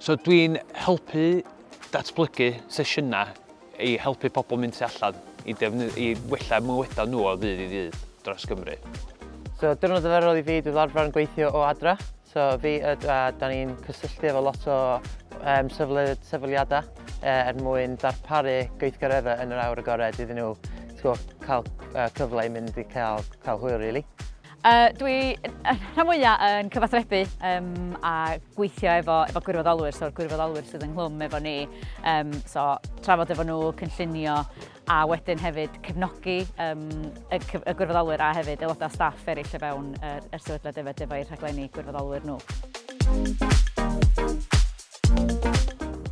So dwi'n helpu datblygu sesiynau i helpu pobl mynd tu allan i, i wella mywydau nhw o ddydd i ddydd dros Gymru. So diwrnod arferol i fi dwi'n arfer yn gweithio o adra. So fi a Dwad, da ni'n cysylltu efo lot o um, sefydliadau uh, er mwyn darparu gweithgareddau yn yr awr agored iddyn nhw cael uh, cyfle i mynd i cael, cael hwyl, really. Uh, dwi rhan mwyaf yn cyfathrebu um, a gweithio efo, efo gwirfoddolwyr, so'r gwirfoddolwyr sydd ynghlwm efo ni. Um, so, trafod efo nhw, cynllunio, a wedyn hefyd cefnogi um, y, y gwirfoddolwyr a hefyd aelodau staff eraill o fewn yr, er, er sefydliad efo defo'u rhaglenni gwirfoddolwyr nhw.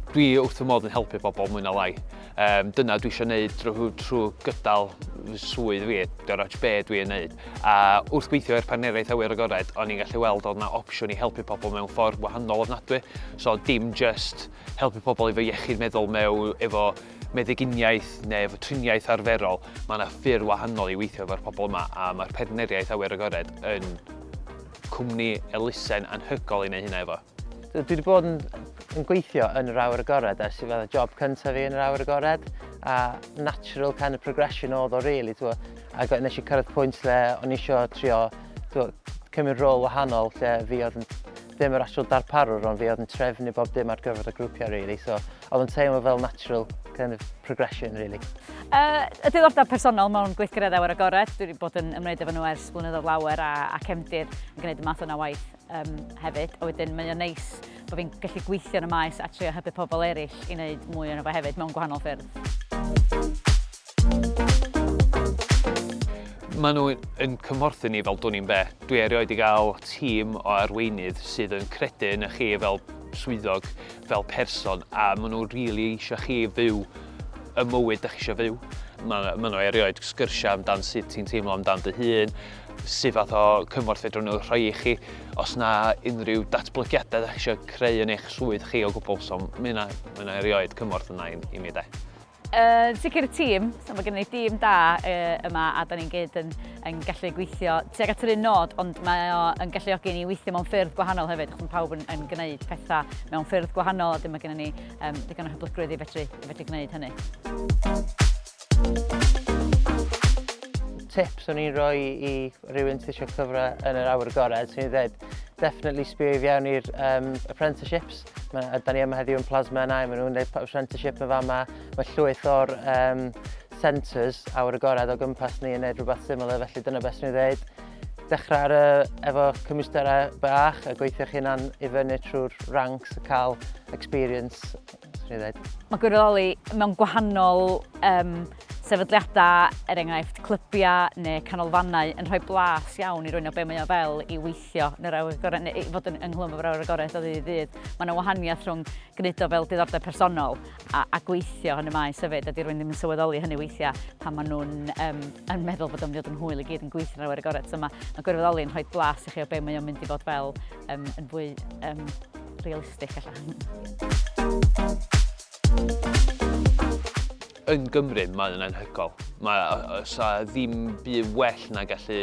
Dwi wrth fy modd yn helpu bobl mwy na lai. Um, dyna dwi eisiau gwneud drwy, drwy gydal fy swydd fi, dwi'n rhaid be dwi yn gwneud. A wrth gweithio i'r partneriaeth awyr agored, o'n i'n gallu weld oedd yna opsiwn i helpu pobl mewn ffordd wahanol ofnadwy. So dim just helpu pobl efo iechyd meddwl mewn efo meddyginiaeth neu efo triniaeth arferol, mae yna ffyrdd wahanol i weithio efo'r pobl yma a mae'r Partneriaeth Awyr Agored yn cwmni elusen anhygoel i wneud hynna efo. Dwi wedi bod yn, yn gweithio yn yr awyr agored ers i fydda job cyntaf fi yn yr awyr agored a natural kind of progression oedd o really, twa. A got, nes i cyrraedd pwynt lle o'n i eisiau trio twa, cymryd rôl wahanol lle fi oedd yn dim yr actual darparwr ond fi oedd yn trefnu bob dim ar gyfer y grwpiau really so oedd yn teimlo fel natural kind of progression really. Uh, y diddordeb personol mewn gweithgareddau ar agored, dwi wedi bod yn ymwneud efo nhw ers blynyddoedd lawer a, a cefndir yn gwneud y math yna waith um, hefyd. A wedyn mae o'n neis bod fi'n gallu gweithio yn y maes a trio hybu pobl eraill i wneud mwy o'n efo hefyd mewn gwahanol ffyrdd. Maen nhw yn cymhorthu ni fel dwn i'n be. Dwi erioed i gael tîm o arweinydd sydd yn credu yn y chi fel swyddog, fel person, a maen nhw rili really eisiau chi fyw y mywyd da chi eisiau fyw. Maen ma nhw erioed sgyrsiau amdan sut ti'n teimlo amdan dy hun, sut fath o cymorth fedrwn nhw rhoi i chi, os na unrhyw datblygiadau da chi eisiau creu yn eich swydd chi o gwbl, so mae yna, mae yna erioed cymorth yna i, i mi de. Yn sicr y tîm, so mae gennym ni dîm da yma a da ni'n gyd yn, yn gallu gweithio tuag at yr un nod, ond mae o yn galluogi ni weithio mewn ffyrdd gwahanol hefyd, achos mae pawb yn, yn gwneud pethau mewn ffyrdd gwahanol a dyma gennym ni um, ddigon o hyblygrwydd i fedru, i fedru gwneud hynny. Tip swn i'n rhoi i rywun sydd eisiau cyfra yn yr awyr gored, swn i'n dweud, definitely sbio i fewn i'r um, apprenticeships, Da ni yma heddiw yn Plasma and I, maen nhw'n gwneud apprenticeship yn fama. Mae llwyth o'r um, centres awyr agored o gwmpas ni yn gwneud rhywbeth similar, felly dyna beth sy'n ei ddeud. Dechrau ar, uh, efo cymwysterau bach a gweithio chi'n an i fyny trwy'r ranks a cael experience. Mae gwirfoddoli mewn gwahanol um, sefydliadau, er enghraifft clybiau neu canolfannau, yn rhoi blas iawn i rwy'n o be mae o fel i weithio gweithio yn yr awyr gorau, neu fod yn ynghlwm o'r awyr agored o ddydd i ddydd. Mae yna wahaniaeth rhwng gwneud o fel diddordeb personol a, a gweithio yn y maes hefyd, a di rwy'n ddim yn sylweddoli hynny weithiau pan maen nhw'n um, yn meddwl bod o'n mynd yn hwyl i gyd yn gweithio yn yr awyr agored. So mae, mae gwirfoddoli yn rhoi blas i chi o be mae o'n mynd i fod fel um, yn fwy um, realistig allan. Yn Gymru, mae o'n anhygol. Mae, os a ddim byd well na gallu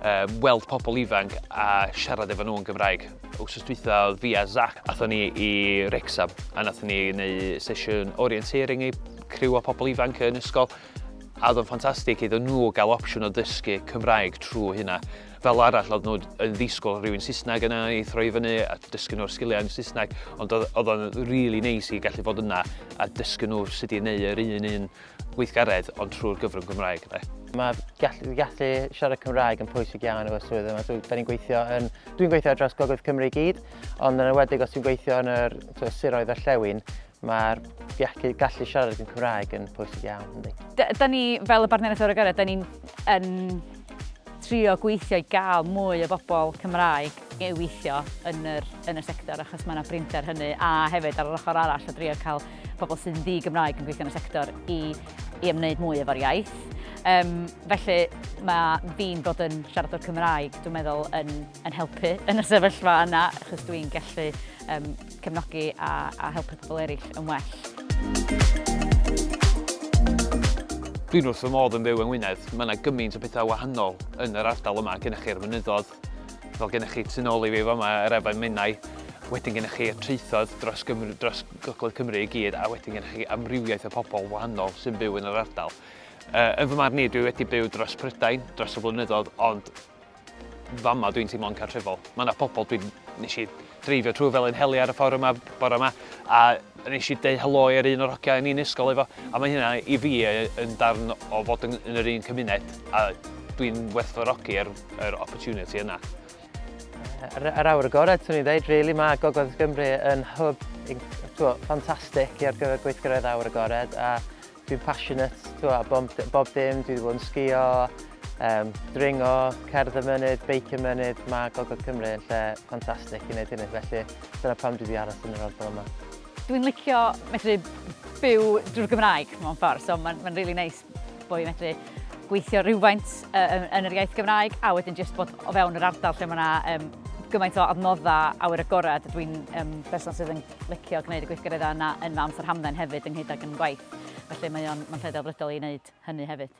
um, weld pobl ifanc a siarad efo nhw yn Gymraeg. Wsos dwytha oedd fi a Zach, athon ni i Rexham, a nathon ni neu sesiwn orienteering i criw o pobl ifanc yn ysgol, a oedd o'n ffantastig iddyn nhw gael opsiwn o ddysgu Cymraeg trwy hynna. Fel arall, oedden nhw yn ddisgwyl rhywun Saesneg yna i throi fyny a dysgu nhw'r sgiliau yn Saesneg, ond oedd o'n rili neis i gallu bod yna a dysgu nhw sut i neu yr un un gweithgaredd ond trwy'r gyfrwng Gymraeg. Mae gallu, gallu siarad Cymraeg yn pwysig iawn efo'r swydd yma. So, da ni'n gweithio yn... Dwi'n gweithio ar draws Gogledd Cymru i gyd, ond yn enwedig os dwi'n gweithio yn yr siroedd orllewin, Mae'r gallu, gallu siarad yn Cymraeg yn pwysig iawn, ynddi. Da ni, fel y Bartneriaeth Ewrogaredd, da ni'n trio gweithio i gael mwy o bobl Cymraeg i weithio yn yr, yn y sector achos mae yna brinder hynny a hefyd ar yr ochr arall o drio cael pobl sy'n ddi Gymraeg yn gweithio yn y sector i, i ymwneud mwy efo'r iaith. Um, felly mae fi'n bod yn siaradwr Cymraeg, dwi'n meddwl, yn, yn helpu yn y sefyllfa yna achos dwi'n gallu um, cefnogi a a helpu pobl eraill yn well. Dwi'n wrth fy modd yn byw yng Ngwynedd, mae yna gymaint o pethau wahanol yn yr ardal yma, gennych chi'r mynyddodd, fel gennych chi tu nôl i fi fama yr efain Menai, wedyn gennych chi y traethod dros, Gymru, dros Gogledd Cymru i gyd, a wedyn gennych chi amrywiaeth o pobl wahanol sy'n byw yn yr ardal. Uh, yn fy marn i, dwi wedi byw dros Prydain, dros y blynyddoedd, ond Fama dwi'n teimlo'n cartrefol. Mae yna pobl dwi'n... nes i dreifio trwy fel yn heli ar y ffordd yma bore yma, a nes i deu helo i'r un o'r hogiau yn un ysgol efo, a mae hynna i fi yn darn o fod yn, yn yr un cymuned, a dwi'n werthfawrogi yr, yr opportunity yna. Yr, yr awr agored, swn i'n dweud, really, mae Gogledd Gymru yn hwb ffantastig ar gyfer gweithgaredd awr agored, a Dwi'n passionate, ti'n gwybod, bob, d- bob dim, dwi wedi bod yn sgio, um, dringo, cerdd y mynydd, beic y mynydd, mae Gogledd Cymru yn lle ffantastig i wneud hynny, felly dyna pam dwi wedi aros yn yr ardal yma. Dwi'n licio medru byw drwy'r Gymraeg mewn ffordd, so mae'n ma really neis bod i'n medru gweithio rhywfaint uh, yn yr iaith Gymraeg a wedyn jyst bod o fewn yr ardal lle mae yna um, gymaint o adnoddau awyr agored. Dwi'n um, person sydd yn licio gwneud y gweithgareddau yna yn fy amser hamdden hefyd ynghyd ag yn gwaith. Felly mae o'n lle delfrydol i wneud hynny hefyd.